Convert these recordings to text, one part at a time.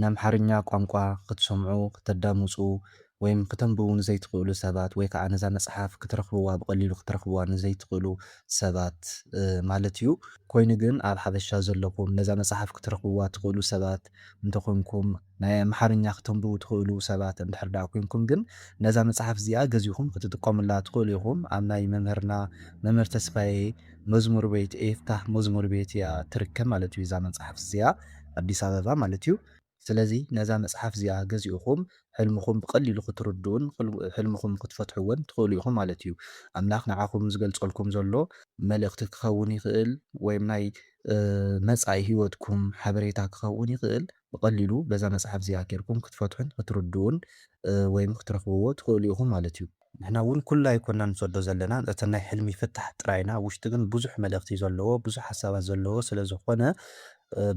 ንኣምሓርኛ ቋንቋ ክትሰምዑ፣ ክተዳምጹ ወይም ክተንብቡ ንዘይትኽእሉ ሰባት ወይ ከኣ ነዛ መጽሓፍ ክትረኽብዋ ብቐሊሉ ክትረኽብዋ ንዘይትኽእሉ ሰባት ማለት እዩ። ኮይኑ ግን ኣብ ሓበሻ ዘለኹም ነዛ መጽሓፍ ክትረኽብዋ ትኽእሉ ሰባት እንተ ኾንኩም፣ ናይ ኣምሓርኛ ክተንብቡ ትኽእሉ ሰባት እንድሕር ደኣ ኮንኩም ግን ነዛ መጽሓፍ እዚኣ ገዚእኹም ክትጥቀሙላ ትኽእሉ ኢኹም። ኣብ ናይ መምህርና መምህር ተስፋዬ። መዝሙር ቤት ኤፍታህ መዝሙር ቤት እያ ትርከብ ማለት እዩ እዛ መጽሓፍ እዚኣ ኣዲስ ኣበባ ማለት እዩ ስለዚ ነዛ መጽሓፍ እዚኣ ገዚእኹም ሕልምኹም ብቀሊሉ ክትርድኡን ሕልምኹም ክትፈትሕዎን ትኽእሉ ኢኹም ማለት እዩ ኣምላኽ ንዓኹም ዝገልጸልኩም ዘሎ መልእኽቲ ክኸውን ይኽእል ወይም ናይ መጻኢ ሂወትኩም ሓበሬታ ክኸውን ይኽእል። ብቐሊሉ በዛ መጽሓፍ እዚኣ ጌርኩም ክትፈትሑን ክትርድኡን ወይም ክትረኽብዎ ትኽእሉ ኢኹም ማለት እዩ። ንሕና እውን ኩሉ ኣይኮናን ንሰዶ ዘለና ነቲ ናይ ሕልሚ ፍታሕ ጥራይ ኢና፣ ውሽጢ ግን ብዙሕ መልእኽቲ ዘለዎ ብዙሕ ሓሳባት ዘለዎ ስለ ዝኾነ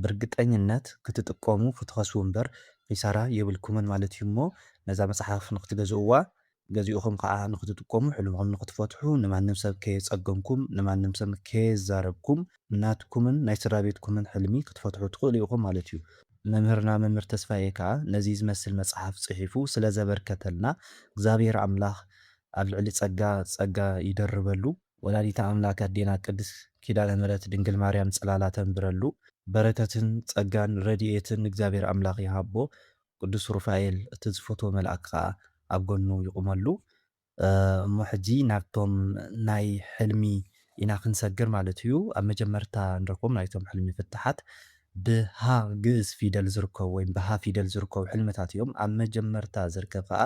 ብርግጠኝነት ክትጥቀሙ ክትኸስቡ እምበር ኺሳራ የብልኩምን ማለት እዩ እሞ ነዛ መጽሓፍ ንኽትገዝእዋ ገዚእኹም ከኣ ንኽትጥቀሙ፣ ሕልምኹም ንኽትፈትሑ፣ ንማንም ሰብ ከየጸገምኩም፣ ንማንም ሰብ ከየዛረብኩም፣ ናትኩምን ናይ ስድራቤትኩምን ሕልሚ ክትፈትሑ ትኽእሉ ኢኹም ማለት እዩ። መምህርና መምህር ተስፋዬ ከኣ ነዚ ዝመስል መጽሓፍ ጽሒፉ ስለ ዘበርከተልና እግዚኣብሔር ኣምላኽ ኣብ ልዕሊ ጸጋ ጸጋ ይደርበሉ። ወላዲተ ኣምላክ ኣዴና ቅድስት ኪዳነ ምህረት ድንግል ማርያም ጽላላ ተንብረሉ። በረከትን ጸጋን ረዲኤትን እግዚኣብሔር ኣምላኽ ይሃቦ ቅዱስ ሩፋኤል እቲ ዝፈትዎ መልኣክ ከኣ ኣብ ጎኑ ይቁመሉ እሞ ሕጂ ናብቶም ናይ ሕልሚ ኢና ክንሰግር ማለት እዩ ኣብ መጀመርታ ንረክቦም ናይቶም ሕልሚ ፍታሓት ብ ህ ግእዝ ፊደል ዝርከቡ ወይም ብ ህ ፊደል ዝርከቡ ሕልምታት እዮም ኣብ መጀመርታ ዝርከብ ከኣ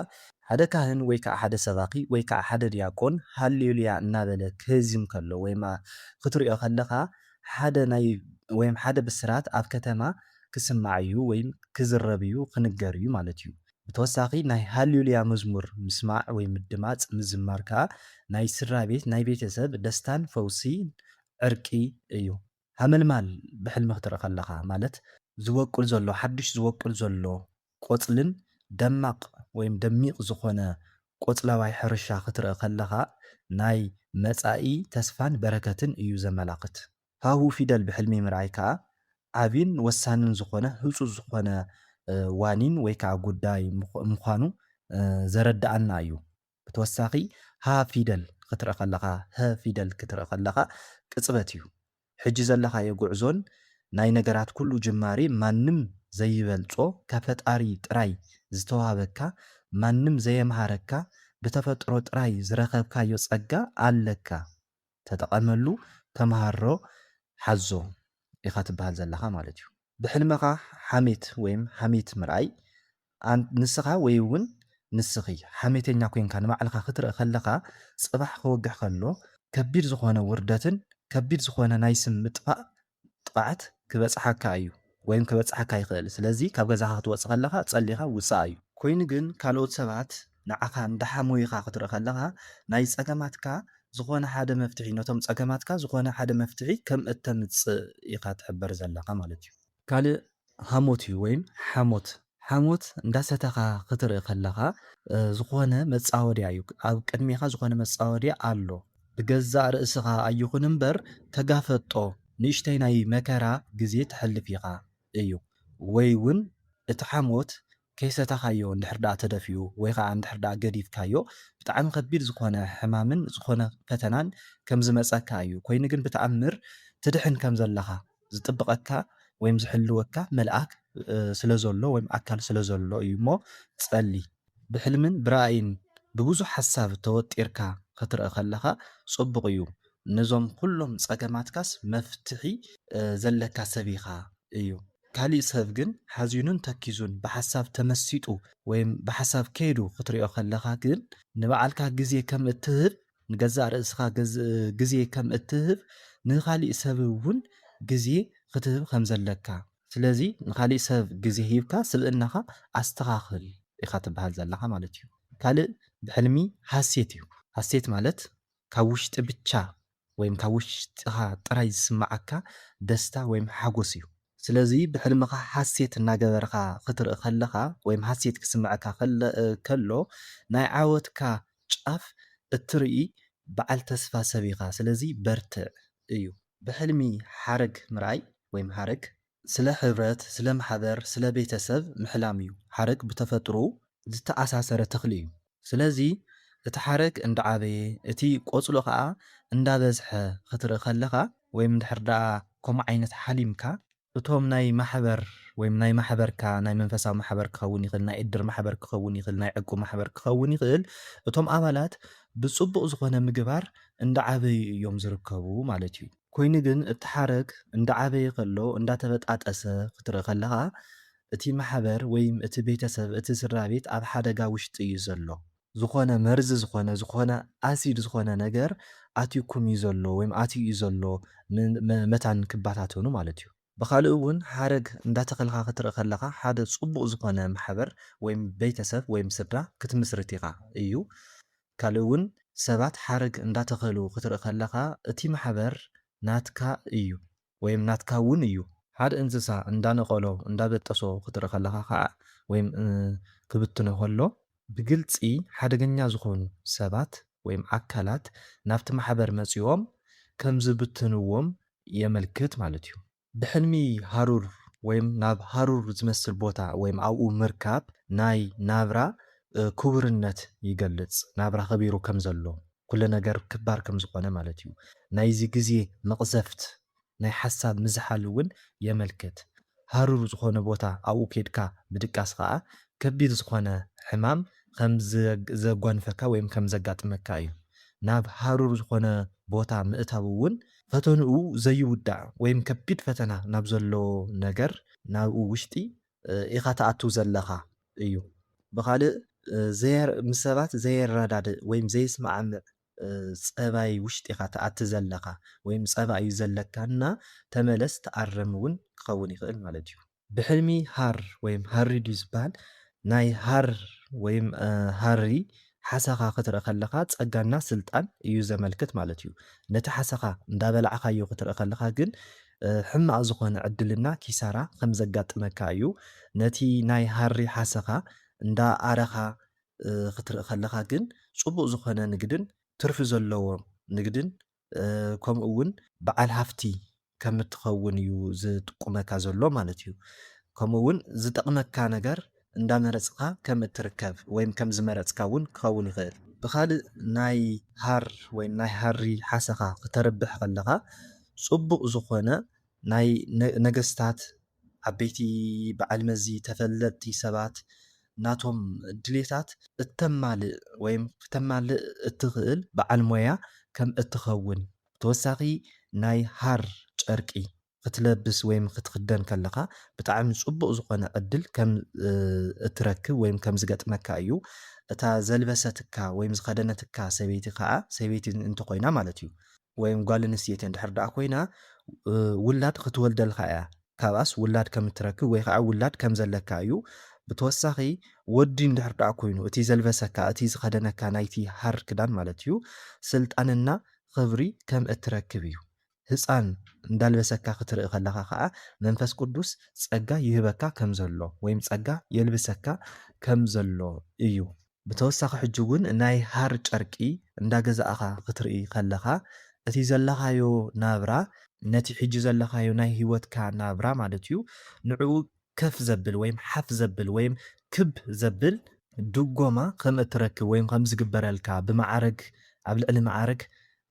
ሓደ ካህን ወይ ከኣ ሓደ ሰባኪ ወይ ከኣ ሓደ ድያቆን ሃሌሉያ እናበለ ክህዝም ከሎ ወይም ክትሪኦ ከለካ ሓደ ናይ ወይም ሓደ ብስራት ኣብ ከተማ ክስማዕ እዩ ወይም ክዝረብ እዩ ክንገር እዩ ማለት እዩ። ብተወሳኺ ናይ ሃልዩሉያ መዝሙር ምስማዕ ወይም ምድማፅ ምዝማር ከዓ ናይ ስድራቤት ናይ ቤተሰብ ደስታን ፈውሲን ዕርቂ እዩ። ሃመልማል ብሕልሚ ክትርኢ ከለኻ ማለት። ዝወቅል ዘሎ ሓዱሽ ዝወቅል ዘሎ ቆጽልን ደማቅ ወይም ደሚቅ ዝኾነ ቆጽለዋይ ሕርሻ ክትርኢ ከለኻ ናይ መጻኢ ተስፋን በረከትን እዩ ዘመላኽት። ሃሁ ፊደል ብሕልሚ ምርኣይ ከኣ ዓቢን ወሳንን ዝኾነ ህጹጽ ዝኾነ ዋኒን ወይ ከኣ ጉዳይ ምዃኑ ዘረደኣና እዩ። ብተወሳኺ ሀ ፊደል ኽትርኢ ኸለኻ፣ ህ ፊደል ክትርኢ ኸለኻ ቅጽበት እዩ። ሕጂ ዘለኻዮ ጉዕዞን ናይ ነገራት ኩሉ ጅማሬ ማንም ዘይበልጾ ካብ ፈጣሪ ጥራይ ዝተዋህበካ ማንም ዘየምሃረካ ብተፈጥሮ ጥራይ ዝረኸብካዮ ጸጋ ኣለካ። ተጠቐመሉ ተመሃሮ ሓዞ ኢኻ ትበሃል ዘለኻ ማለት እዩ። ብሕልምኻ ሓሜት ወይም ሓሜት ምርኣይ ኣን ንስኻ ወይ ውን ንስኺ ሓሜተኛ ኮይንካ ንባዕልኻ ክትርእ ከለኻ ጽባሕ ክወግሕ ከሎ ከቢድ ዝኾነ ውርደትን ከቢድ ዝኾነ ናይ ስም ምጥፋእ ጥቓዓት ክበጽሓካ እዩ ወይም ከበጽሓካ ይኽእል ስለዚ ካብ ገዛኻ ክትወጽእ ከለኻ ጸሊኻ ውጻእ እዩ። ኮይኑ ግን ካልኦት ሰባት ንዓኻ እንዳሓሞዩኻ ክትርኢ ከለኻ ናይ ጸገማትካ ዝኾነ ሓደ መፍትሒ ነቶም ጸገማትካ ዝኾነ ሓደ መፍትሒ ከም እተምጽእ ኢኻ ትሕበር ዘለኻ ማለት እዩ። ካልእ ሃሞት እዩ ወይም ሓሞት ሓሞት እንዳሰተኻ ክትርኢ ከለኻ ዝኾነ መጻወድያ እዩ ኣብ ቅድሜኻ ዝኾነ መጻወድያ ኣሎ ብገዛእ ርእስኻ ኣይኹን እምበር ተጋፈጦ ንእሽተይ ናይ መከራ ግዜ ተሕልፍ ኢኻ እዩ ወይ ውን እቲ ሓሞት ከይሰተኻዮ እንድሕር ደኣ ተደፊኡ ወይ ኸኣ እንድሕር ደኣ ገዲፍካዮ ብጣዕሚ ከቢድ ዝኾነ ሕማምን ዝኾነ ፈተናን ከምዝመጸካ እዩ ኮይኑ ግን ብተኣምር ትድሕን ከምዘለኻ ዝጥብቐካ ወይም ዝሕልወካ መልኣክ ስለዘሎ ወይም ኣካል ስለዘሎ እዩ እሞ ጸሊ። ብሕልምን ብራእይን ብብዙሕ ሓሳብ ተወጢርካ ክትርእ ከለኻ ጽቡቕ እዩ ነዞም ኩሎም ጸገማትካስ መፍትሒ ዘለካ ሰብ ኢኻ እዩ። ካሊእ ሰብ ግን ሓዚኑን ተኪዙን ብሓሳብ ተመሲጡ ወይም ብሓሳብ ከይዱ ክትሪኦ ከለኻ ግን ንባዕልካ ግዜ ከም እትህብ ንገዛእ ርእስኻ ግዜ ከም እትህብ፣ ንኻሊእ ሰብ እውን ግዜ ኽትህብ ከም ዘለካ። ስለዚ ንኻሊእ ሰብ ግዜ ሂብካ ስብእናኻ ኣስተኻኽል ኢኻ ትበሃል ዘለኻ ማለት እዩ። ካልእ ብሕልሚ ሃሴት እዩ። ሃሴት ማለት ካብ ውሽጢ ብቻ ወይም ካብ ውሽጢኻ ጥራይ ዝስመዓካ ደስታ ወይም ሓጎስ እዩ። ስለዚ ብሕልምኻ ሃሴት እናገበርኻ ኽትርኢ ኸለኻ ወይም ሃሴት ክስመዐካ ከሎ ናይ ዓወትካ ጫፍ እትርኢ በዓል ተስፋ ሰብ ኢኻ ስለዚ በርትዕ እዩ። ብሕልሚ ሓረግ ምርኣይ ወይም ሓረግ። ስለ ሕብረት፣ ስለ ማሕበር፣ ስለ ቤተሰብ ምሕላም እዩ። ሓረግ ብተፈጥሮኡ ዝተኣሳሰረ ተኽሊ እዩ። ስለዚ እቲ ሓረግ እንዳዓበየ እቲ ቆጽሎ ከኣ እንዳበዝሐ ክትርኢ ከለኻ ወይም እንድሕር ደኣ ከምኡ ዓይነት ሓሊምካ፣ እቶም ናይ ማሕበር ወይም ናይ ማሕበርካ ናይ መንፈሳዊ ማሕበር ክኸውን ይኽእል፣ ናይ እድር ማሕበር ክኸውን ይኽእል፣ ናይ ዕቁብ ማሕበር ክኸውን ይኽእል፣ እቶም ኣባላት ብጽቡቕ ዝኾነ ምግባር እንዳዓበዩ እዮም ዝርከቡ ማለት እዩ። ኮይኑ ግን እቲ ሓረግ እንዳዓበየ ከሎ እንዳተበጣጠሰ ክትርኢ ከለኻ እቲ ማሕበር ወይም እቲ ቤተሰብ እቲ ስድራቤት ኣብ ሓደጋ ውሽጢ እዩ ዘሎ። ዝኾነ መርዚ ዝኾነ ዝኾነ ኣሲድ ዝኾነ ነገር ኣትዩኩም እዩ ዘሎ ወይም ኣትዩ እዩ ዘሎ መታን ክባታተኑ ማለት እዩ። ብኻልእ እውን ሓረግ እንዳተኸልካ ክትርኢ ከለኻ ሓደ ፅቡቕ ዝኾነ ማሕበር ወይም ቤተሰብ ወይም ስድራ ክትምስርት ኢኻ እዩ። ካልእ እውን ሰባት ሓረግ እንዳተኸሉ ክትርኢ ከለኻ እቲ ማሕበር ናትካ እዩ። ወይም ናትካ ውን እዩ። ሓደ እንስሳ እንዳነቀሎ እንዳበጠሶ ክትርኢ ከለካ ከኣ ወይም ክብትኖ ከሎ ብግልጺ ሓደገኛ ዝኮኑ ሰባት ወይም ኣካላት ናብቲ ማሕበር መጺኦም ከምዝብትንዎም የመልክት ማለት እዩ። ብሕልሚ ሃሩር ወይም ናብ ሃሩር ዝመስል ቦታ ወይም ኣብኡ ምርካብ ናይ ናብራ ክቡርነት ይገልጽ፣ ናብራ ከቢሩ ከምዘሎ ኩሉ ነገር ክባር ከም ዝኾነ ማለት እዩ። ናይዚ ግዜ መቕዘፍት ናይ ሓሳብ ምዝሓል እውን የመልክት። ሃሩር ዝኾነ ቦታ ኣብኡ ኬድካ ምድቃስ ኸኣ ከቢድ ዝኾነ ሕማም ከም ዘጓንፈካ ወይም ከም ዘጋጥመካ እዩ። ናብ ሃሩር ዝኾነ ቦታ ምእታው እውን፣ ፈተንኡ ዘይውዳእ ወይም ከቢድ ፈተና ናብ ዘለዎ ነገር ናብኡ ውሽጢ ኢኻ ትኣቱ ዘለኻ እዩ። ብኻልእ ምስ ሰባት ዘየረዳድእ ወይም ዘይስማዕምዕ ፀባይ ውሽጢ ኢኻ ትኣቲ ዘለኻ ወይም ፀባ እዩ ዘለካ እና ተመለስ ተኣረም እውን ክኸውን ይኽእል ማለት እዩ። ብሕልሚ ሃር ወይም ሃሪዱ ዝበሃል ናይ ሃር ወይም ሃሪ ሓሰኻ ክትርኢ ከለኻ ጸጋና ስልጣን እዩ ዘመልክት ማለት እዩ። ነቲ ሓሰኻ እንዳበላዕኻዮ ክትርኢ ከለኻ ግን ሕማቕ ዝኾነ ዕድልና ኪሳራ ከም ዘጋጥመካ እዩ። ነቲ ናይ ሃሪ ሓሰኻ እንዳ ኣረኻ ክትርኢ ከለኻ ግን ጽቡቕ ዝኾነ ንግድን ትርፊ ዘለዎ ንግድን ከምኡውን በዓል ሃፍቲ ከም እትኸውን እዩ ዝጥቁመካ ዘሎ ማለት እዩ። ከምኡውን ዝጠቕመካ ነገር እንዳመረጽኻ ከም እትርከብ ወይም ከም ዝመረጽካ እውን ክኸውን ይኽእል። ብኻልእ ናይ ሃር ወይም ናይ ሃሪ ሓሰኻ ክተርብሕ ከለኻ ጽቡቕ ዝኾነ ናይ ነገስታት ዓበይቲ በዓል መዚ ተፈለጥቲ ሰባት ናቶም ድሌታት እተማልእ ወይ ክተማልእ እትኽእል በዓል ሞያ ከም እትኸውን ብተወሳኺ ናይ ሃር ጨርቂ ክትለብስ ወይ ክትኽደን ከለኻ ብጣዕሚ ጽቡቕ ዝኾነ ዕድል ከም እትረክብ ወይ ከም ዝገጥመካ እዩ እታ ዘልበሰትካ ወይ ዝኸደነትካ ሰበይቲ ከኣ ሰበይቲ እንተኾይና ማለት እዩ ወይም ጓል ኣንስተይቲ እንድሕር ደኣ ኮይና ውላድ ክትወልደልካ እያ ካብኣስ ውላድ ከም እትረክብ ወይ ከዓ ውላድ ከም ዘለካ እዩ ብተወሳኺ ወዲ እንድሕር ደኣ ኮይኑ እቲ ዘልበሰካ እቲ ዝኸደነካ ናይቲ ሃር ክዳን ማለት እዩ ስልጣንና ኽብሪ ከም እትረክብ እዩ ህፃን እንዳልበሰካ ክትርኢ ከለኻ ከዓ መንፈስ ቅዱስ ፀጋ ይህበካ ከም ዘሎ ወይም ፀጋ የልብሰካ ከም ዘሎ እዩ ብተወሳኺ ሕጂ ውን ናይ ሃር ጨርቂ እንዳገዛእኻ ክትርኢ ከለኻ እቲ ዘለኻዮ ናብራ ነቲ ሕጂ ዘለኻዮ ናይ ሂወትካ ናብራ ማለት ዩ ንዕኡ ከፍ ዘብል ወይም ሓፍ ዘብል ወይም ክብ ዘብል ድጎማ ከም እትረክብ ወይም ከም ዝግበረልካ ብመዓርግ ኣብ ልዕሊ መዓርግ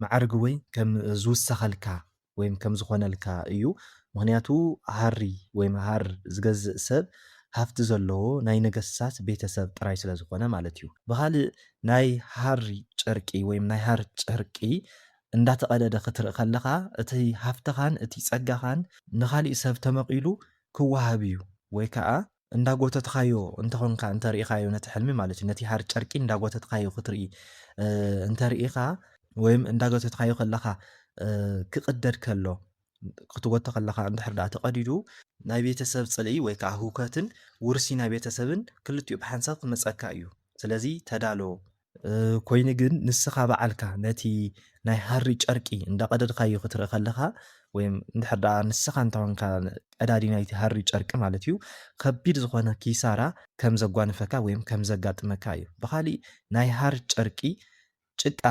መዓርግ ወይ ከም ዝውሰኸልካ ወይም ከም ዝኾነልካ እዩ ምኽንያቱ ሃሪ ወይም ሃር ዝገዝእ ሰብ ሃፍቲ ዘለዎ ናይ ነገስታት ቤተ ሰብ ጥራይ ስለ ዝኾነ ማለት እዩ ብኻልእ ናይ ሃሪ ጨርቂ ወይም ናይ ሃር ጨርቂ እንዳተቐደደ ክትርኢ ከለኻ እቲ ሃፍትኻን እቲ ጸጋኻን ንኻሊእ ሰብ ተመቒሉ ክወሃብ እዩ ወይ ከኣ እንዳጎተትኻዮ እንተኾንካ እንተርኢኻዮ ነቲ ሕልሚ ማለት እዩ ነቲ ሃር ጨርቂ እንዳጎተትኻዮ ክትርኢ እንተርኢኻ ወይም እንዳጎተትኻዮ ከለኻ ክቕደድ ከሎ ክትጎቶ ከለኻ እንድሕር ደኣ ተቐዲዱ ናይ ቤተሰብ ጽልኢ ወይ ከዓ ህውከትን ውርሲ ናይ ቤተሰብን ክልቲኡ ብሓንሳብ ክመጸካ እዩ ስለዚ ተዳሎ ኮይኑ ግን ንስኻ በዓልካ ነቲ ናይ ሃሪ ጨርቂ እንዳቀደድካዮ ክትርኢ ከለኻ ወይም እንድሕር ደኣ ንስኻ እንተኾንካ ቀዳዲ ናይቲ ሃሪ ጨርቂ ማለት እዩ ከቢድ ዝኾነ ኪሳራ ከም ዘጓንፈካ ወይም ከም ዘጋጥመካ እዩ ብኻሊእ ናይ ሃር ጨርቂ ጭቃ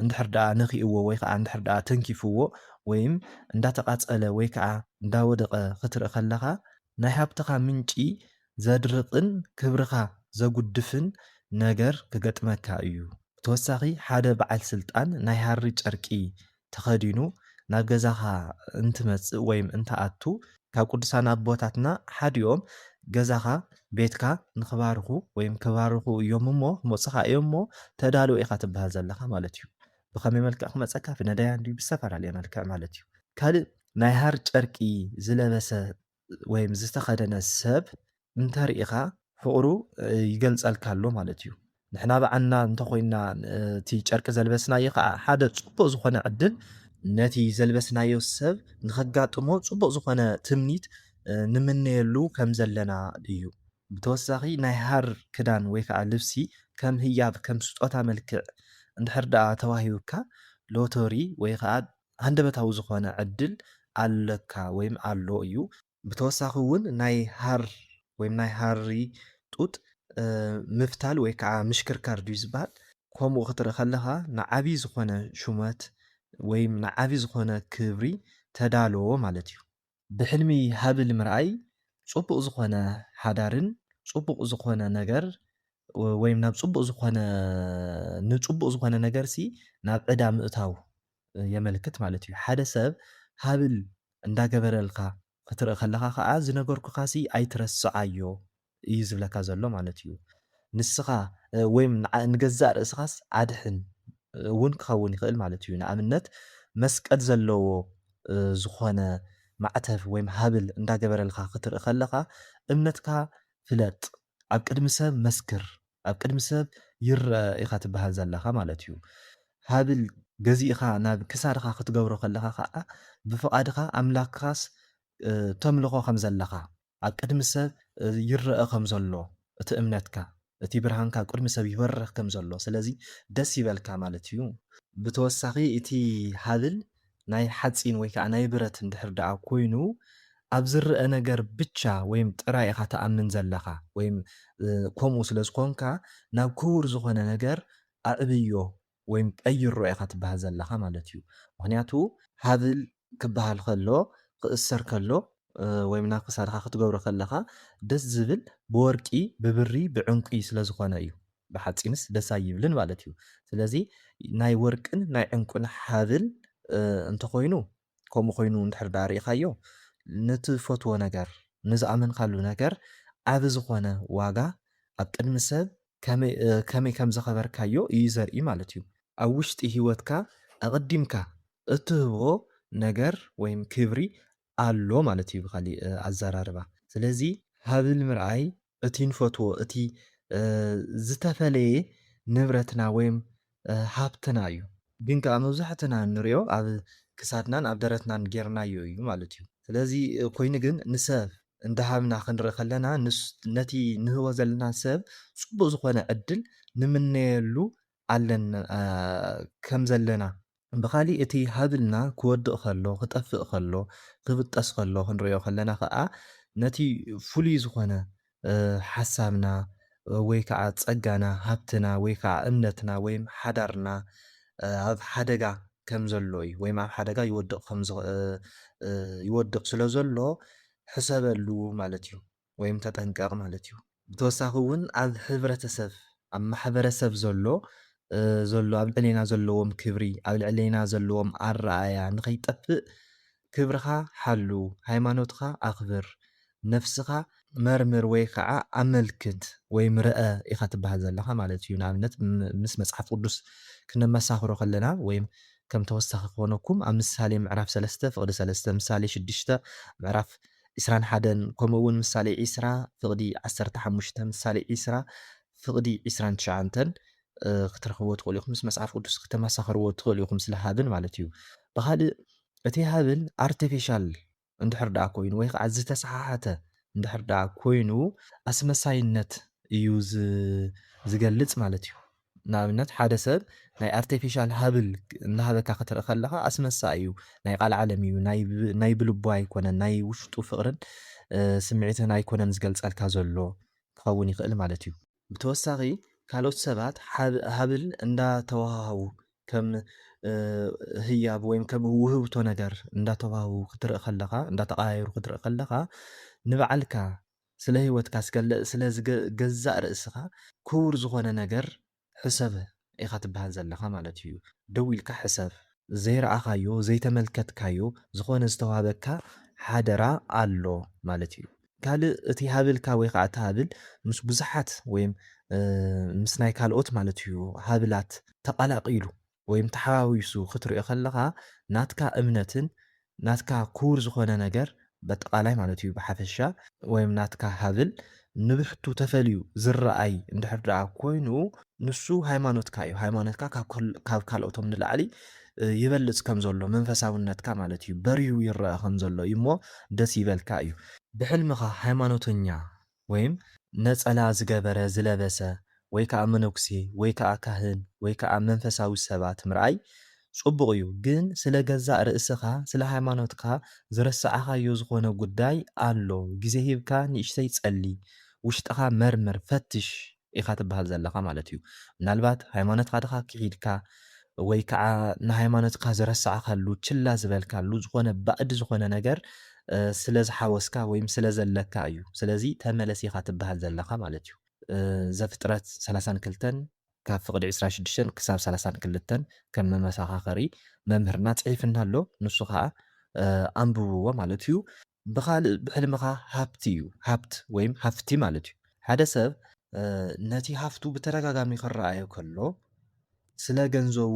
እንድሕር ደኣ ነኪእዎ ወይ ከዓ እንድሕር ደኣ ተንኪፍዎ ወይም እንዳተቃፀለ ወይ ከዓ እንዳወደቐ ክትርኢ ከለኻ ናይ ሃብትኻ ምንጪ ዘድርቕን ክብርኻ ዘጉድፍን ነገር ክገጥመካ እዩ። ብተወሳኺ ሓደ በዓል ስልጣን ናይ ሃሪ ጨርቂ ተኸዲኑ ናብ ገዛኻ እንትመጽእ ወይም እንትኣቱ፣ ካብ ቅዱሳን ኣቦታትና ሓዲኦም ገዛኻ፣ ቤትካ፣ ንክባርኹ ወይም ክባርኹ እዮም እሞ ክመጹኻ እዮም እሞ ተዳሎ ኢኻ ትበሃል ዘለኻ ማለት እዩ። ብኸመይ መልክዕ ክመጸካ ብነዳያን ድዩ ብዝተፈላለየ መልክዕ ማለት እዩ። ካልእ ናይ ሃሪ ጨርቂ ዝለበሰ ወይም ዝተኸደነ ሰብ እንተሪኢኻ ፍቕሩ ይገልጸልካ ኣሎ ማለት እዩ። ንሕና ብዓና እንተኾይና እቲ ጨርቂ ዘልበስናዮ ከዓ ሓደ ፅቡቅ ዝኾነ ዕድል ነቲ ዘልበስናዮ ሰብ ንኸጋጥሞ ፅቡቅ ዝኾነ ትምኒት ንምነየሉ ከም ዘለና እዩ። ብተወሳኺ ናይ ሃር ክዳን ወይ ከዓ ልብሲ ከም ህያብ ከም ስጦታ መልክዕ እንድሕር ደኣ ተዋሂቡካ ሎተሪ ወይ ከዓ ሃንደበታዊ ዝኾነ ዕድል ኣለካ ወይም ኣሎ እዩ። ብተወሳኺ እውን ናይ ሃር ወይም ናይ ሃሪ ጡጥ ምፍታል ወይ ከዓ ምሽክርካር ድዩ ዝበሃል ከምኡ ክትርኢ ከለኻ ንዓብዪ ዝኾነ ሹመት ወይም ንዓብዪ ዝኾነ ክብሪ ተዳሎ ማለት እዩ። ብሕልሚ ሃብል ምርኣይ ጹቡቅ ዝኮነ ሓዳርን ጹቡቅ ዝኮነ ነገር ወይም ናብ ጹቡቅ ዝኮነ ንጹቡቅ ዝኮነ ነገር ሲ ናብ ዕዳ ምእታው የመልክት ማለት እዩ ሓደ ሰብ ሃብል እንዳገበረልካ ክትርኢ ከለካ ከኣ ዝነገርኩካ ሲ ኣይትረስዓዮ እዩ ዝብለካ ዘሎ ማለት እዩ። ንስኻ ወይም ንገዛእ ርእስኻስ ኣድሕን እውን ክኸውን ይኽእል ማለት እዩ። ንኣብነት መስቀል ዘለዎ ዝኾነ ማዕተብ ወይም ሃብል እንዳገበረልኻ ክትርኢ ከለኻ እምነትካ ፍለጥ ኣብ ቅድሚ ሰብ መስክር ኣብ ቅድሚ ሰብ ይረኣ ኢኻ ትበሃል ዘለኻ ማለት እዩ። ሃብል ገዚእኻ ናብ ክሳድኻ ክትገብሮ ከለኻ ከኣ ብፍቓድኻ ኣምላክኻስ ተምልኾ ከም ዘለኻ ኣብ ቅድሚ ሰብ ይረኣ ከም ዘሎ እቲ እምነትካ እቲ ብርሃንካ ኣብ ቅድሚ ሰብ ይበርህ ከም ዘሎ ስለዚ ደስ ይበልካ ማለት እዩ። ብተወሳኺ እቲ ሃብል ናይ ሓጺን ወይ ከኣ ናይ ብረት እንድሕር ደኣ ኮይኑ ኣብ ዝረኣ ነገር ብቻ ወይም ጥራይ ኢኻ ትኣምን ዘለኻ ወይም ከምኡ ስለ ዝኾንካ ናብ ክቡር ዝኾነ ነገር ኣዕብዮ ወይም ቀይሮ ኢኻ ትበሃል ዘለኻ ማለት እዩ ምኽንያቱ ሃብል ክበሃል ከሎ ክእሰር ከሎ ወይም ናብ ክሳድኻ ክትገብሮ ከለኻ ደስ ዝብል ብወርቂ ብብሪ ብዕንቊ ስለ ዝኾነ እዩ ብሓፂንስ ደስ ኣይብልን ማለት እዩ ስለዚ ናይ ወርቅን ናይ ዕንቊን ሃብል እንተኾይኑ ከምኡ ኮይኑ እንድሕር ደኣ ርኢኻዮ፣ ንትፈትዎ ነገር፣ ንዝኣመንካሉ ነገር ዓቢ ዝኾነ ዋጋ ኣብ ቅድሚ ሰብ ከመይ ከም ዘኸበርካዮ ኢዩ ዘርኢ ማለት ኢዩ። ኣብ ውሽጢ ህይወትካ ኣቐዲምካ እትህቦ ነገር ወይም ክብሪ ኣሎ ማለት ኢዩ ብኻሊእ ኣዘራርባ። ስለዚ ሃብል ምርኣይ እቲ ንፈትዎ እቲ ዝተፈለየ ንብረትና ወይም ሃብትና እዩ። ግን ከኣ መብዛሕትና እንሪኦ ኣብ ክሳድናን ኣብ ደረትናን ጌርናዮ እዩ ማለት እዩ። ስለዚ ኮይኑ ግን ንሰብ እንዳሃብና ክንርኢ ከለና ነቲ ንህቦ ዘለና ሰብ ጽቡቅ ዝኾነ ዕድል ንምነየሉ ከም ዘለና፣ ብኻሊእ እቲ ሃብልና ክወድቕ ከሎ፣ ክጠፍእ ከሎ፣ ክብጠስ ከሎ ክንርእዮ ከለና ከኣ ነቲ ፍሉይ ዝኾነ ሓሳብና ወይ ከኣ ጸጋና፣ ሃብትና ወይ ከኣ እምነትና ወይም ሓዳርና ኣብ ሓደጋ ከም ዘሎ እዩ ወይም ኣብ ሓደጋ ይወድቕ ከም ይወድቕ ስለ ዘሎ ሕሰበሉ ማለት እዩ። ወይም ተጠንቀቕ ማለት እዩ። ብተወሳኺ እውን ኣብ ሕብረተሰብ፣ ኣብ ማሕበረሰብ ዘሎ ዘሎ ኣብ ልዕሌና ዘለዎም ክብሪ፣ ኣብ ልዕሌና ዘለዎም ኣረኣእያ ንኸይጠፍእ ክብርኻ ሓሉ፣ ሃይማኖትካ ኣኽብር፣ ነፍስኻ መርምር ወይ ከዓ ኣመልክት ወይም ርኣ ኢኻ ትበሃል ዘለኻ ማለት እዩ። ንኣብነት ምስ መፅሓፍ ቅዱስ ክነመሳኽሮ ከለና ወይም ከም ተወሳኺ ክኾነኩም ኣብ ምሳሌ ምዕራፍ ሰለስተ ፍቕዲ ሰለስተ፣ ምሳሌ ሽዱሽተ ምዕራፍ ዕስራን ሓደን ከምኡ እውን ምሳሌ ዕስራ ፍቕዲ ዓሰርተ ሓሙሽተ ምሳሌ ዕስራ ፍቕዲ ዕስራን ትሽዓንተን ክትረኽብዎ ትኽእሉ ኢኹም ምስ መጽሓፍ ቅዱስ ክተመሳኽርዎ ትኽእሉ ኢኹም ስለ ሃብል ማለት እዩ ብኻልእ እቲ ሃብል ኣርቲፊሻል እንድሕር ደኣ ኮይኑ ወይ ከዓ ዝተሰሓሓተ እንድሕር ደኣ ኮይኑ ኣስመሳይነት እዩ ዝገልጽ ማለት እዩ ንኣብነት ሓደ ሰብ ናይ ኣርቴፊሻል ሃብል እንዳሃበካ ክትርኢ ከለኻ ኣስመሳኢ እዩ ናይ ቃልዓለም እዩ ናይ ብልቡ ኣይኮነን ናይ ውሽጡ ፍቅርን ስምዒትን ኣይኮነን ዝገልጸልካ ዘሎ ክኸውን ይኽእል ማለት እዩ። ብተወሳኺ ካልኦት ሰባት ሃብል እንዳተወሃሃቡ ከም ህያብ ወይም ከም ውህብቶ ነገር እንዳተወሃቡ ክትርኢ ከለኻ እንዳተቀያየሩ ክትርኢ ከለኻ ንባዕልካ ስለ ህይወትካ ስከለ ስለ ገዛእ ርእስኻ ኩቡር ዝኾነ ነገር ሕሰብ ኢኻ ትብሃል ዘለኻ ማለት ኢዩ ደው ኢልካ ሕሰብ። ዘይረኣኻዮ ዘይተመልከትካዮ ዝኾነ ዝተዋህበካ ሓደራ ኣሎ ማለት ኢዩ። ካልእ እቲ ሃብልካ ወይ ኻኣ እቲ ሃብል ምስ ቡዙሓት ወይም ምስ ናይ ካልኦት ማለት ኢዩ ሃብላት ተቓላቒሉ ወይም ተሓዋዊሱ ክትሪኦ ከለኻ ናትካ እምነትን ናትካ ኩቡር ዝኾነ ነገር በጠቓላይ ማለት እዩ ብሓፈሻ ወይም ናትካ ሃብል ንብሕቱ ተፈልዩ ዝረኣይ እንድሕር ደኣ ኮይኑ ንሱ ሃይማኖትካ እዩ ሃይማኖትካ ካብ ካልኦቶም ንላዕሊ ይበልጽ ከም ዘሎ መንፈሳውነትካ ማለት እዩ በርሁ ይረኣ ከም ዘሎ እዩ እሞ ደስ ይበልካ እዩ ብሕልምኻ ሃይማኖተኛ ወይም ነጸላ ዝገበረ፣ ዝለበሰ፣ ወይ ከኣ መነኩሴ ወይ ከኣ ካህን ወይ ከኣ መንፈሳዊ ሰባት ምርኣይ ጽቡቕ እዩ ግን ስለ ገዛእ ርእስኻ ስለ ሃይማኖትካ ዝረሳዕኻዮ ዝኾነ ጉዳይ ኣሎ ግዜ ሂብካ ንእሽተይ ጸሊ ውሽጥኻ መርምር ፈትሽ ኢኻ ትብሃል ዘለኻ ማለት እዩ ምናልባት ሃይማኖትካ ድኻ ክሒድካ ወይ ከዓ ንሃይማኖትካ ዝረሳዕካሉ ችላ ዝበልካሉ ዝኾነ ባእድ ዝኾነ ነገር ስለ ዝሓወስካ ወይም ስለ ዘለካ እዩ ስለዚ ተመለስ ኢኻ ትብሃል ዘለኻ ማለት እዩ ዘፍጥረት ሰላሳን ክልተን ካብ ፍቕዲ ዕስራን ሽዱሽተን ክሳብ ሰላሳን ክልተን ከም መመሳኻኸሪ መምህርና ፅሒፍና ኣሎ ንሱ ከዓ ኣንብብዎ ማለት እዩ ብኻልእ ብሕልምኻ ሃብቲ እዩ ሃብት ወይም ሃፍቲ ማለት እዩ ሓደ ሰብ ነቲ ሃፍቱ ብተደጋጋሚ ክረኣዮ ከሎ ስለ ገንዘቡ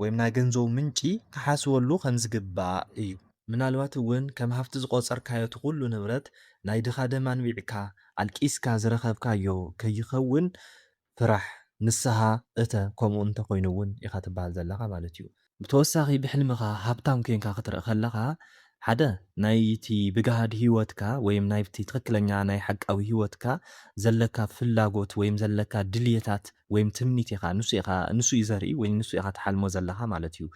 ወይም ናይ ገንዘቡ ምንጪ ክሓስበሉ ከም ዝግባእ እዩ። ምናልባት እውን ከም ሃፍቲ ዝቖጸርካዮ እቲ ኩሉ ንብረት ናይ ድኻ ደም ኣንቢዕካ ኣልቂስካ ዝረኸብካዮ ከይኸውን ፍራሕ ንስሃ እተ ከምኡ እንተ ኮይኑ እውን ኢኻ ትበሃል ዘለኻ ማለት እዩ። ብተወሳኺ ብሕልምኻ ሃብታም ኮይንካ ክትርእ ከለኻ ሓደ ናይቲ ብጋህዲ ህይወትካ ወይም ናይቲ ትኽክለኛ ናይ ሓቃዊ ህይወትካ ዘለካ ፍላጎት ወይም ዘለካ ድልየታት ወይም ትምኒት ኢኻ ንሱ ኢኻ ንሱ እዩ ዘርኢ ወይም ንሱ ኢኻ ትሓልሞ ዘለኻ ማለት እዩ።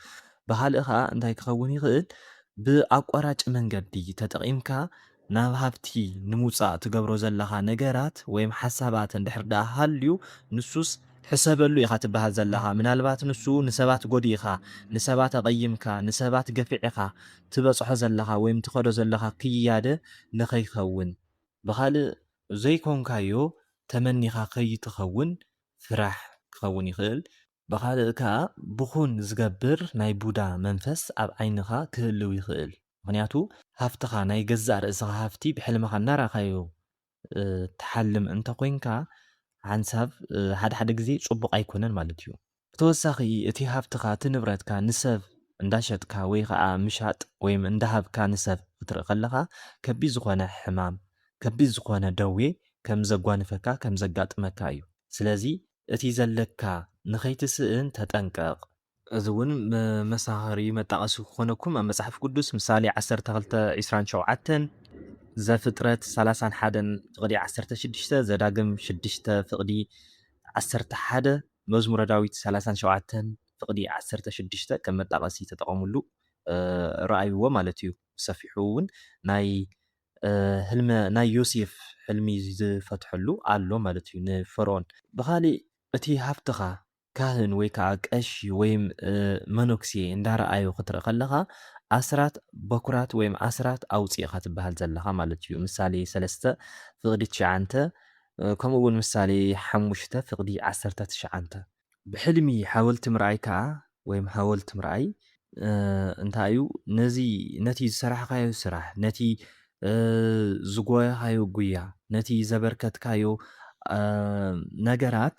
ብኻልእ ከኣ እንታይ ክኸውን ይኽእል ብኣቋራጭ መንገዲ ተጠቒምካ ናብ ሃብቲ ንምውጻእ ትገብሮ ዘለኻ ነገራት ወይም ሓሳባት እንድሕር ደኣ ሃልዩ ንሱስ ሕሰበሉ ኢኻ ትበሃል ዘለኻ። ምናልባት ንሱ ንሰባት ጎዲእካ፣ ንሰባት ኣቐይምካ፣ ንሰባት ገፊዕኻ ትበጽሖ ዘለኻ ወይም ትኸዶ ዘለኻ ክያደ ንኸይከውን ብኻልእ ዘይኮንካዮ ተመኒኻ ከይትኸውን ፍራሕ ክኸውን ይኽእል። ብኻልእ ከኣ ብኹን ዝገብር ናይ ቡዳ መንፈስ ኣብ ዓይንኻ ክህልው ይኽእል። ምኽንያቱ ሃፍትኻ ናይ ገዛእ ርእስኻ ሃፍቲ ብሕልምኻ እናረኣኻዮ ትሓልም እንተ ኾይንካ ሓንሳብ ሓደ ሓደ ግዜ ጽቡቕ ኣይኮነን ማለት እዩ። ብተወሳኺ እቲ ሃፍትኻ እቲ ንብረትካ ንሰብ እንዳሸጥካ ወይ ኸኣ ምሻጥ ወይም እንዳሃብካ ንሰብ ኽትርኢ ከለኻ ከቢድ ዝኾነ ሕማም ከቢድ ዝኾነ ደዌ ከም ዘጓንፈካ ከም ዘጋጥመካ እዩ። ስለዚ እቲ ዘለካ ንኸይትስእን ተጠንቀቕ። እዚ እውን መሳኸሪ መጣቐሲ ክኾነኩም ኣብ መጽሓፍ ቅዱስ ምሳሌ ዓሰርተ ክልተ ዒስራን ሸውዓተን ዘፍጥረት ሰላሳን ሓደን ፍቕዲ ዓሰርተ ሽዱሽተ ዘዳግም ሽዱሽተ ፍቕዲ ዓሰርተ ሓደ መዝሙረ ዳዊት ሰላሳን ሸውዓተን ፍቕዲ ዓሰርተ ሽዱሽተ ከም መጣቐሲ ተጠቐምሉ ረኣይዎ ማለት እዩ ብሰፊሑ እውን ናይ ህልመ ናይ ዮሴፍ ሕልሚ ዝፈትሐሉ ኣሎ ማለት እዩ ንፈርኦን ብኻሊእ እቲ ሃብትኻ ካህን ወይ ከኣ ቀሺ ወይም መኖክሴ እንዳረኣዩ ክትርኢ ከለኻ ኣስራት በኩራት ወይም ኣስራት ኣውጽእ ኢኻ ትበሃል ዘለኻ ማለት እዩ። ምሳሌ ሰለስተ ፍቅዲ ትሽዓንተ ከምኡ እውን ምሳሌ ሓሙሽተ ፍቅዲ ዓሰርተ ትሽዓንተ። ብሕልሚ ሓወልቲ ምርኣይ ከኣ ወይም ሃወልት ምርኣይ እንታይ እዩ ነዚ ነቲ ዝሰራሕኻዮ ስራሕ ነቲ ዝጎየኻዮ ጉያ ነቲ ዘበርከትካዮ ነገራት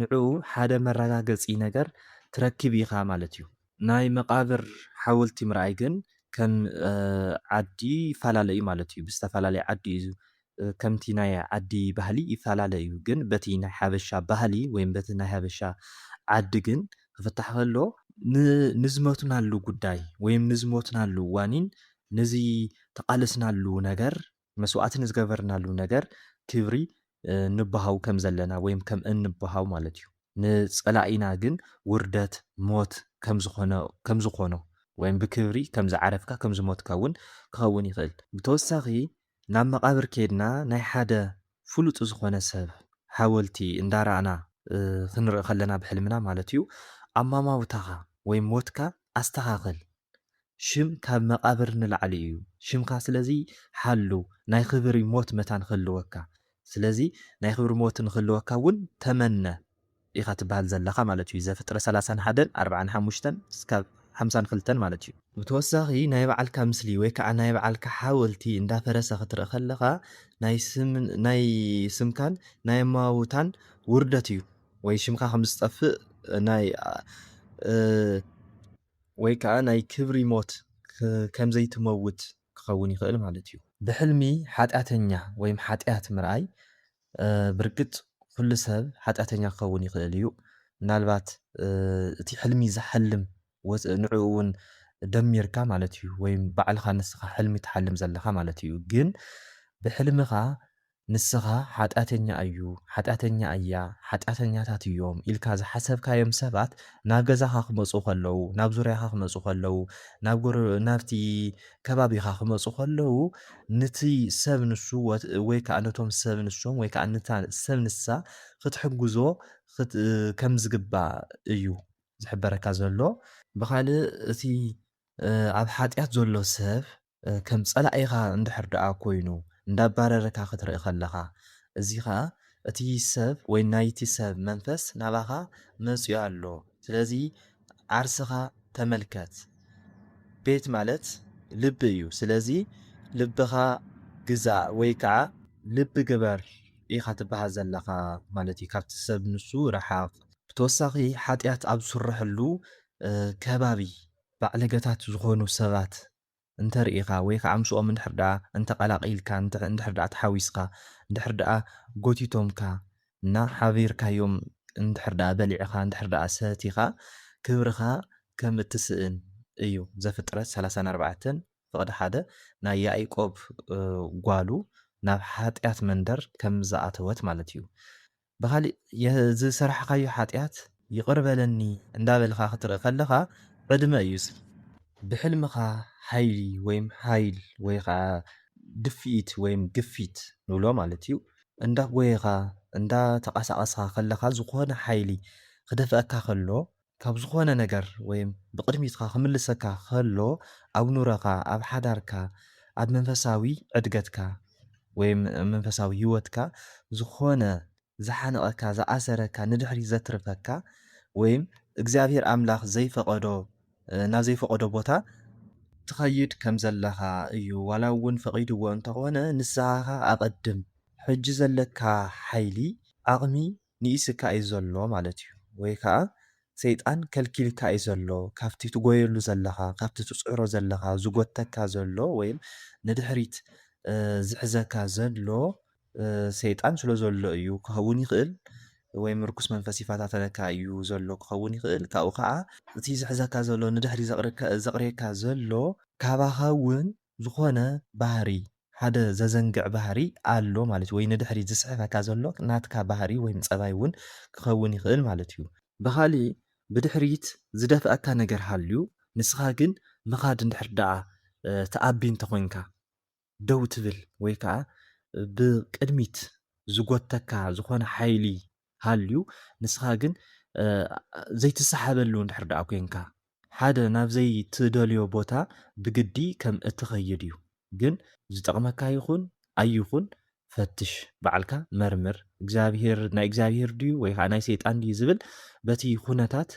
ንዕኡ ሓደ መራጋገጺ ነገር ትረክብ ኢኻ ማለት እዩ። ናይ መቓብር ሓውልቲ ምርኣይ ግን ከም ዓዲ ይፋላለ እዩ ማለት እዩ። ብዝተፋላለየ ዓዲ እዩ ከምቲ ናይ ዓዲ ባህሊ ይፋላለ እዩ ግን በቲ ናይ ሓበሻ ባህሊ ወይም በቲ ናይ ሓበሻ ዓዲ ግን ክፍታሕ ከሎ፣ ንዝመትናሉ ጉዳይ ወይም ንዝሞትናሉ ዋኒን ነዚ ተቓለስናሉ ነገር መስዋእቲ ንዝገበርናሉ ነገር ክብሪ ንበሃው ከም ዘለና ወይም ከም እንበሃው ማለት እዩ። ንጸላኢና ግን ውርደት፣ ሞት፣ ከም ዝኾነ ከም ዝኾኖ ወይም ብክብሪ ከም ዝዓረፍካ ከም ዝሞትካ እውን ክኸውን ይኽእል። ብተወሳኺ ናብ መቓብር ኬድና ናይ ሓደ ፍሉጥ ዝኾነ ሰብ ሓወልቲ እንዳራእና ክንርኢ ከለና ብሕልምና ማለት እዩ ኣማማውታኻ ወይም ሞትካ ኣስተኻኽል ሽም ካብ መቃብር ንላዕሊ እዩ ሽምካ ስለዚ ሓሉ ናይ ኽብሪ ሞት መታን ኽህልወካ ስለዚ ናይ ኽብሪ ሞት ንኽህልወካ እውን ተመነ ኢኻ ትበሃል ዘለኻ ማለት እዩ ዘፍጥረት ሰላሳን ሓደን ኣርብዓን ሓሙሽተን እስካብ ሓምሳን ኽልተን ማለት እዩ። ብተወሳኺ ናይ ባዓልካ ምስሊ ወይ ካዓ ናይ ባዓልካ ሓወልቲ እንዳፈረሰ ኽትርኢ ኸለኻ ናይ ስምን ናይ ስምካን ናይ ኣመዋውታን ውርደት እዩ ወይ ሽምካ ኸም ዝጠፍእ ናይ ወይ ከኣ ናይ ክብሪ ሞት ከም ዘይትመውት ክኸውን ይኽእል ማለት እዩ። ብሕልሚ ሓጢኣተኛ ወይም ሓጢኣት ምርኣይ፣ ብርግጽ ኩሉ ሰብ ሓጢኣተኛ ክኸውን ይኽእል እዩ። ምናልባት እቲ ሕልሚ ዝሓልም ንዕኡ እውን ደሚርካ ማለት እዩ ወይም ባዕልኻ ንስኻ ሕልሚ ትሓልም ዘለኻ ማለት እዩ። ግን ብሕልምኻ ንስኻ ሓጢኣተኛ እዩ፣ ሓጢኣተኛ እያ፣ ሓጢኣተኛታት እዮም ኢልካ ዝሓሰብካዮም ሰባት ናብ ገዛኻ ክመጹ ከለዉ፣ ናብ ዙርያኻ ክመጹ ከለዉ፣ ናብ ጎረ ናብቲ ከባቢኻ ክመጹ ከለዉ፣ ንቲ ሰብ ንሱ ወይ ከኣ ነቶም ሰብ ንሶም ወይ ከኣ ንታ ሰብ ንሳ ክትሕግዞ ክት ከም ዝግባእ እዩ ዝሕበረካ ዘሎ። ብኻልእ እቲ ኣብ ሓጢኣት ዘሎ ሰብ ከም ጸላኢኻ እንድሕር ደኣ ኮይኑ እንዳባረረካ ክትርኢ ከለኻ እዚ ከኣ እቲ ሰብ ወይ ናይቲ ሰብ መንፈስ ናባኻ መጽዩ ኣሎ ስለዚ ዓርስኻ ተመልከት ቤት ማለት ልቢ እዩ ስለዚ ልብኻ ግዛእ ወይ ከኣ ልቢ ግበር ኢኻ ትበሃል ዘለኻ ማለት እዩ ካብቲ ሰብ ንሱ ርሓቕ። ብተወሳኺ ሓጥያት ኣብ ዝስረሐሉ ከባቢ ባዕለገታት ዝኾኑ ሰባት እንተ ርኢኻ ወይ ኸኣ ምስኦም እንድሕር ደኣ እንተ ቐላቒልካ እንድሕር ደኣ ተሓዊስካ እንድሕር ደኣ ጎቲቶምካ እና ሓቢርካዮም እንድሕር ደኣ በሊዕኻ እንድሕር ደኣ ሰቲኻ ክብርኻ ከም እትስእን እዩ ዘፍጥረት ሰላሳን ኣርባዕተን ፍቕዲ ሓደ ናይ ያኢቆብ ጓሉ ናብ ሓጢኣት መንደር ከም ዝኣተወት ማለት እዩ ብኻሊእ ዝሰራሕኻዮ ሓጥያት ይቕር በለኒ እንዳበልኻ ክትርኢ ከለኻ ዕድመ እዩ እዚ። ብሕልምኻ ሓይሊ ወይም ሓይል ወይ ኸዓ ድፍኢት ወይም ግፊት ንብሎ ማለት እዩ እንዳጎየኻ እንዳተቓሳቐስኻ ከለኻ ዝኾነ ሓይሊ ክደፍኣካ ከሎ ካብ ዝኾነ ነገር ወይም ብቕድሚትካ ክምልሰካ ከሎ ኣብ ኑረኻ ኣብ ሓዳርካ ኣብ መንፈሳዊ ዕድገትካ ወይም መንፈሳዊ ሂወትካ ዝኾነ ዝሓንቐካ ዝኣሰረካ ንድሕሪት ዘትርፈካ ወይም እግዚኣብሄር ኣምላኽ ዘይፈቐዶ ናብ ዘይፈቐዶ ቦታ ትኸይድ ከም ዘለኻ እዩ ዋላ ውን ፈቒድዎ እንተኾነ ንስሃኻ ኣቐድም ሕጂ ዘለካ ሓይሊ ዓቕሚ ንኢስካ እዩ ዘሎ ማለት እዩ ወይ ከኣ ሰይጣን ከልኪልካ እዩ ዘሎ ካብቲ ትጎየሉ ዘለኻ ካብቲ ትጽዕሮ ዘለኻ ዝጎተካ ዘሎ ወይም ንድሕሪት ዝሕዘካ ዘሎ ሰይጣን ስለ ዘሎ እዩ ክኸውን ይኽእል ወይም ርኩስ መንፈስ ይፈታተነካ እዩ ዘሎ ክኸውን ይኽእል ካብኡ ከኣ እቲ ዝሕዘካ ዘሎ ንድሕሪት ዘቕርየካ ዘሎ ካባኻ ውን ዝኾነ ባህሪ ሓደ ዘዘንግዕ ባህሪ ኣሎ ማለት እዩ ወይ ንድሕሪት ዝስሕበካ ዘሎ ናትካ ባህሪ ወይም ፀባይ እውን ክኸውን ይኽእል ማለት እዩ። ብኻሊእ ብድሕሪት ዝደፍኣካ ነገር ሃልዩ ንስኻ ግን ምኻድ እንድሕር ደኣ ትኣቢ እንተኾይንካ ደው ትብል ወይ ከዓ ብቅድሚት ዝጎትተካ ዝኾነ ሓይሊ ሃልዩ ንስኻ ግን ዘይትሰሓበሉ እንድሕር ደኣ ኮንካ ሓደ ናብ ዘይትደልዮ ቦታ ብግዲ ከም እትኸይድ እዩ ግን ዝጠቕመካ ይኹን ኣይኹን ፈትሽ ባዕልካ መርምር እግዚኣብሄር ናይ እግዚኣብሄር ድዩ ወይ ከኣ ናይ ሰይጣን ድዩ ዝብል በቲ ኩነታት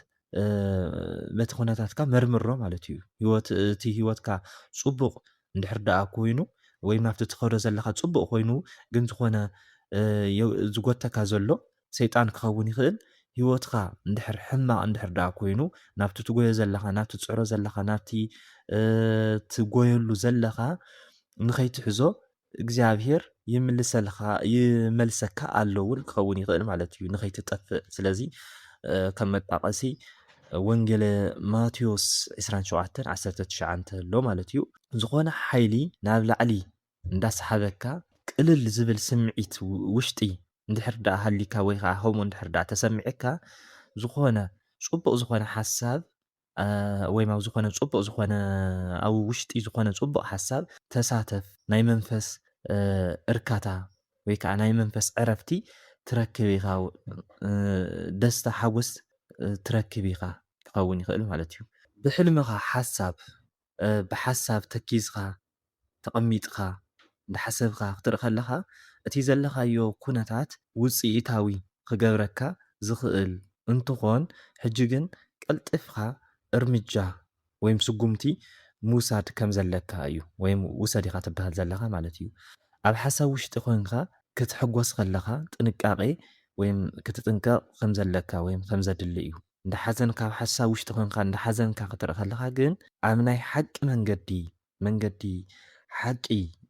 በቲ ኩነታትካ መርምሮ ማለት እዩ ህይወት እቲ ህይወትካ ፅቡቕ እንድሕር ደኣ ኮይኑ ወይ ናብቲ ትኸዶ ዘለካ ፅቡቕ ኮይኑ ግን ዝኾነ ዝጎተካ ዘሎ ሰይጣን ክኸውን ይኽእል ህይወትካ እንድሕር ሕማቕ እንድሕር ደኣ ኮይኑ ናብቲ ትጎዮ ዘለኻ ናብቲ ትፅዕሮ ዘለኻ ናብቲ ትጎየሉ ዘለኻ ንኸይትሕዞ እግዚኣብሄር ይምልሰልካ ይመልሰካ ኣሎ እውን ክኸውን ይኽእል ማለት እዩ ንኸይትጠፍእ ስለዚ ከም መጣቐሲ ወንጌለ ማቴዎስ 27 19 ኣሎ ማለት እዩ ዝኾነ ሓይሊ ናብ ላዕሊ እንዳሰሓበካ ቅልል ዝብል ስምዒት ውሽጢ እንድሕር ደኣ ሃሊካ ወይ ከዓ ከምኡ እንድሕር ደኣ ተሰሚዕካ ዝኾነ ፅቡቕ ዝኾነ ሓሳብ ወይም ኣብ ዝኾነ ፅቡቕ ዝኾነ ኣብ ውሽጢ ዝኾነ ፅቡቕ ሓሳብ ተሳተፍ ናይ መንፈስ እርካታ ወይ ከዓ ናይ መንፈስ ዕረፍቲ ትረክብ ኢኻ ደስታ ሓጎስ ትረክብ ኢኻ ክኸውን ይኽእል ማለት እዩ ብሕልምኻ ሓሳብ ብሓሳብ ተኪዝካ ተቐሚጥካ እንዳሓሰብካ ክትርኢ ከለኻ እቲ ዘለኻዮ ኩነታት ውጽኢታዊ ክገብረካ ዝኽእል እንትኾን ሕጂ ግን ቀልጢፍካ እርምጃ ወይም ስጉምቲ ምውሳድ ከም ዘለካ እዩ ወይም ውሰድ ኢኻ ትብሃል ዘለኻ ማለት እዩ። ኣብ ሓሳብ ውሽጢ ኮንካ ክትሕጎስ ከለኻ ጥንቃቄ ወይም ክትጥንቀቕ ከም ዘለካ ወይም ከም ዘድሊ እዩ። እንዳ ሓዘንካ ኣብ ሓሳብ ውሽጢ ኮንካ እንዳ ሓዘንካ ክትርኢ ከለካ ግን ኣብ ናይ ሓቂ መንገዲ መንገዲ ሓቂ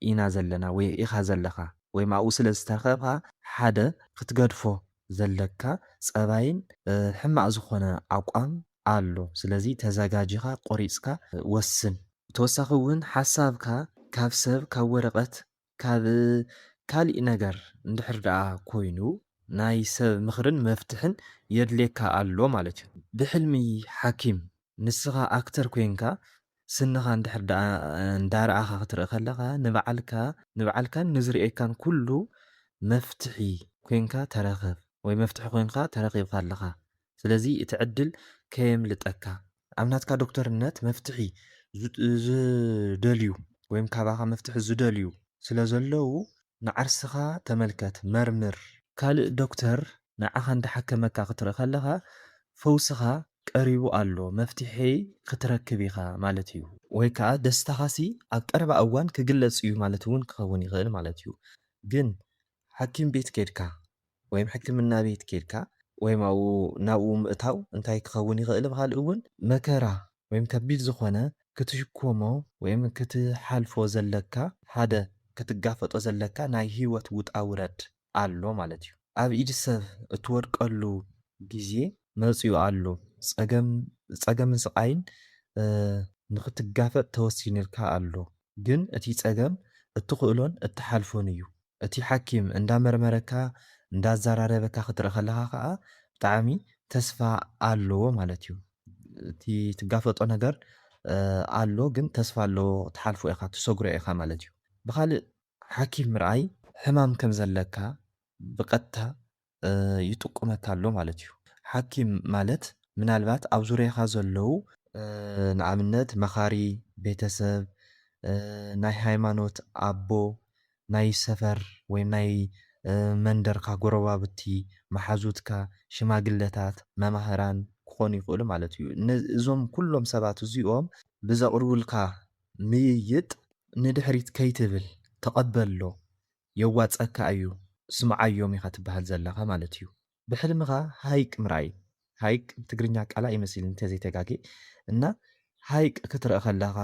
ኢና ዘለና ወይ ኢካ ዘለካ ወይም ኣብኡ ስለ ዝተረከብካ ሓደ ክትገድፎ ዘለካ ጸባይን ሕማቅ ዝኮነ ኣቋም ኣሎ ስለዚ ተዛጋጂካ ቆሪጽካ ወስን ብተወሳኪ ውን ሓሳብካ ካብ ሰብ ካብ ወረቀት ካብ ካሊእ ነገር እንድሕር ደኣ ኮይኑ ናይ ሰብ ምኽርን መፍትሕን የድልየካ ኣሎ ማለት እዩ። ብሕልሚ ሓኪም ንስኻ ኣክተር ኮይንካ ስንኻ እንድሕር ደኣ እንዳረኣኻ ክትርኢ ከለኻ ንባዕልካ ንባዕልካን ንዝርእየካን ኩሉ መፍትሒ ኮይንካ ተረኽብ ወይ መፍትሒ ኮይንካ ተረኺብካ ኣለኻ ስለዚ እቲ ዕድል ከየምልጠካ ኣብ ናትካ ዶክተርነት መፍትሒ ዝደልዩ ወይም ካባኻ መፍትሒ ዝደልዩ ስለ ዘለዉ ንዓርስኻ ተመልከት፣ መርምር። ካልእ ዶክተር ንዓኻ እንዳሓከመካ ክትርኢ ከለኻ ፈውስኻ ቀሪቡ ኣሎ፣ መፍትሒ ክትረክብ ኢኻ ማለት እዩ። ወይ ከኣ ደስታኻሲ ኣብ ቀረባ እዋን ክግለጽ እዩ ማለት እውን ክኸውን ይኽእል ማለት እዩ። ግን ሓኪም ቤት ኬድካ ወይም ሕክምና ቤት ኬድካ ወይም ኣብኡ ናብኡ ምእታው እንታይ ክኸውን ይኽእል ምኻል እውን መከራ ወይም ከቢድ ዝኾነ ክትሽኮሞ ወይም ክትሓልፎ ዘለካ ሓደ ክትጋፈጦ ዘለካ ናይ ህይወት ውጣ ውረድ ኣሎ ማለት እዩ ኣብ ኢድ ሰብ እትወድቀሉ ግዜ መጺኡ ኣሎ ጸገም ጸገምን ስቓይን ንኽትጋፈጥ ተወሲንልካ ኣሎ ግን እቲ ጸገም እትኽእሎን እትሓልፎን እዩ እቲ ሓኪም እንዳ መርመረካ እንዳ ኣዛራረበካ ክትርኢ ከለካ ከኣ ብጣዕሚ ተስፋ ኣለዎ ማለት እዩ እቲ ትጋፈጦ ነገር ኣሎ ግን ተስፋ ኣለዎ ትሓልፎ ኢካ ትሰግሮ ኢካ ማለት እዩ ብካልእ ሓኪም ምርኣይ ሕማም ከም ዘለካ ብቀጥታ ይጥቁመካ ኣሎ ማለት እዩ። ሓኪም ማለት ምናልባት ኣብ ዙርያኻ ዘለው፣ ንኣብነት መኻሪ ቤተሰብ፣ ናይ ሃይማኖት ኣቦ፣ ናይ ሰፈር ወይ ናይ መንደርካ ጎረባብቲ፣ መሓዙትካ፣ ሽማግለታት፣ መማህራን ክኾኑ ይኽእሉ ማለት እዩ። እዞም ኩሎም ሰባት እዚኦም ብዘቕርቡልካ ምይይጥ ንድሕሪት ከይትብል ተቐበሎ የዋጽኣካ ኣዩ ስምዓዮም ኢካ ትብሃል ዘለካ ማለት እዩ ብሕልምካ ሃይቅ ምርኣይ ሃይቅ ብትግርኛ ቃላ እዩ መሲልኒ እንተዘይ ተጋጌ እና ሃይቅ ክትርእ ከለካ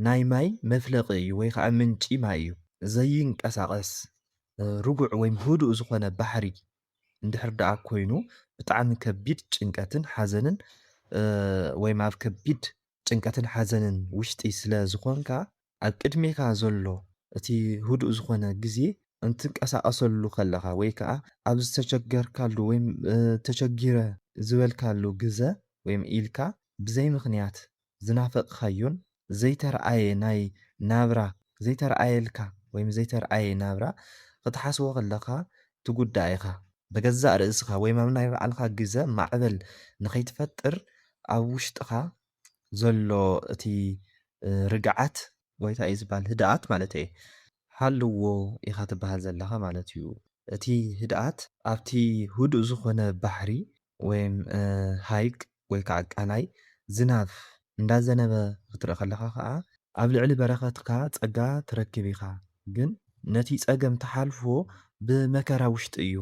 ናይ ማይ መፍለቂ እዩ ወይ ከኣ ምንጪ ማይ እዩ ዘይንቀሳቀስ ርጉዕ ወይም ህዱእ ዝኮነ ባሕሪ እንድሕር ደኣ ኮይኑ ብጣዕሚ ከቢድ ጭንቀትን ሓዘንን ወይም ኣብ ከቢድ ጭንቀትን ሓዘንን ውሽጢ ስለ ዝኮንካ ኣብ ቅድሜካ ዘሎ እቲ ህዱእ ዝኾነ ግዜ እንትንቀሳቐሰሉ ከለኻ ወይ ከኣ ኣብ ዝተቸገርካሉ ወይ ተቸጊረ ዝበልካሉ ግዘ ወይ ኢልካ ብዘይ ምኽንያት ዝናፈቕኻዮን ዘይተርኣየ ናይ ናብራ ዘይተርኣየልካ ወይ ዘይተርኣየ ናብራ ክትሓስቦ ከለኻ ትጉዳእ ኢኻ። ብገዛእ ርእስኻ ወይ ኣብ ናይ ባዕልኻ ግዘ ማዕበል ንኸይትፈጥር ኣብ ውሽጥኻ ዘሎ እቲ ርግዓት ወይ ታይ እዩ ዝባሃል ህድኣት ማለተይ ሃልዎ ኢኻ ትባሃል ዘለኻ ማለት እዩ እቲ ህድኣት ኣብቲ ህዱእ ዝኾነ ባሕሪ ወይም ሃይቅ ወይ ካዓ ቃላይ ዝናብ እንዳዘነበ ክትርኢ ከለኻ ካዓ ኣብ ልዕሊ በረከትካ ፀጋ ትረክብ ኢኻ ግን ነቲ ፀገም ትሓልፎ ብመከራ ውሽጢ እዩ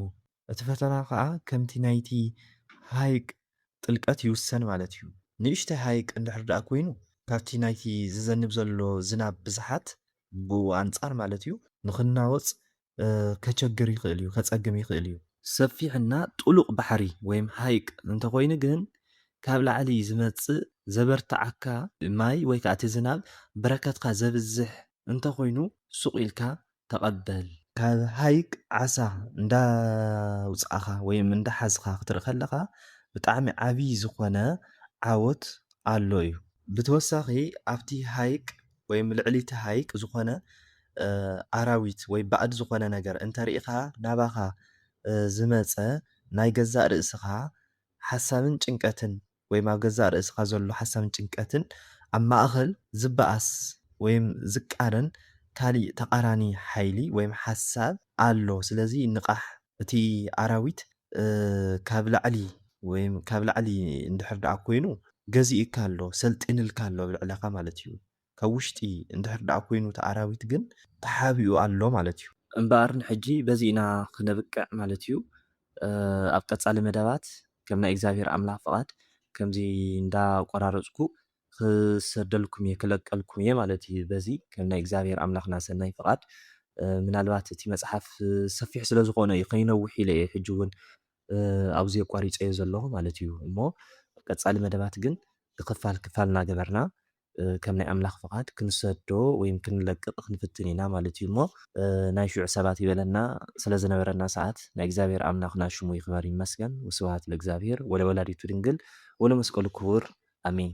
እቲ ፈተና ከኣ ከምቲ ናይቲ ሃይቅ ጥልቀት ይውሰን ማለት እዩ። ንእሽተይ ሃይቅ እንድሕር ደኣ ኮይኑ ካብቲ ናይቲ ዝዘንብ ዘሎ ዝናብ ብዝሓት ብኡ ኣንጻር ማለት እዩ ንክናወጽ ከቸግር ይክእል እዩ፣ ከጸግም ይክእል እዩ። ሰፊሕ እና ጥሉቅ ባሕሪ ወይም ሃይቅ እንተኮይኑ ግን ካብ ላዕሊ ዝመጽእ ዘበርትዓካ ማይ ወይ ከኣ እቲ ዝናብ በረከትካ ዘብዝሕ እንተኮይኑ ሱቅ ኢልካ ተቐበል። ካብ ሃይቅ ዓሳ እንዳውጻእኻ ወይ እንዳሓዝኻ ክትርኢ ከለኻ ብጣዕሚ ዓብይ ዝኾነ ዓወት ኣሎ እዩ። ብተወሳኺ ኣብቲ ሃይቅ ወይ ልዕሊ እቲ ሃይቅ ዝኾነ ኣራዊት ወይ ባእድ ዝኾነ ነገር እንተሪኢኻ ናባኻ ዝመጸ ናይ ገዛእ ርእስኻ ሓሳብን ጭንቀትን ወይም ኣብ ገዛእ ርእስኻ ዘሎ ሓሳብን ጭንቀትን ኣብ ማእኸል ዝበኣስ ወይም ዝቃረን ካሊእ ተቃራኒ ሓይሊ ወይም ሓሳብ ኣሎ ስለዚ ንቓሕ እቲ ኣራዊት ካብ ላዕሊ ወይም ካብ ላዕሊ እንድሕር ደኣ ኮይኑ ገዚኡካ ኣሎ ሰልጢንልካ ኣሎ ኣብ ልዕለኻ ማለት እዩ ካብ ውሽጢ እንድሕር ደኣ ኮይኑ እቲ ኣራዊት ግን ተሓቢኡ ኣሎ ማለት እዩ። እምበኣር ንሕጂ በዚ ኢና ክነብቅዕ ማለት እዩ። ኣብ ቀጻሊ መደባት ከም ናይ እግዚኣብሄር ኣምላኽ ፍቓድ ከምዚ እንዳ ቆራረጽኩ ክሰደልኩም እየ ክለቀልኩም እየ ማለት እዩ በዚ ከም ናይ እግዚኣብሄር ኣምላኽና ሰናይ ፍቓድ ምናልባት እቲ መጽሓፍ ሰፊሕ ስለ ዝኾነ እዩ ከይነውሕ ኢለ እየ ሕጂ እውን ኣብዚ ኣቋሪጸዮ ዘለኹ ማለት እዩ እሞ ቀጻሊ መደባት ግን ክፋል ክፋል እናገበርና ከም ናይ ኣምላኽ ፍቓድ ክንሰዶ ወይም ክንለቅቕ ክንፍትን ኢና ማለት እዩ እሞ ናይ ሽዑ ሰባት ይበለና ስለ ዝነበረና ሰዓት ናይ እግዚኣብሔር ኣምላኽና ሽሙ ይኽበር ይመስገን ወስብሃት ለእግዚኣብሔር ወለወላዲቱ ድንግል ወለመስቀሉ ክቡር ኣሜን።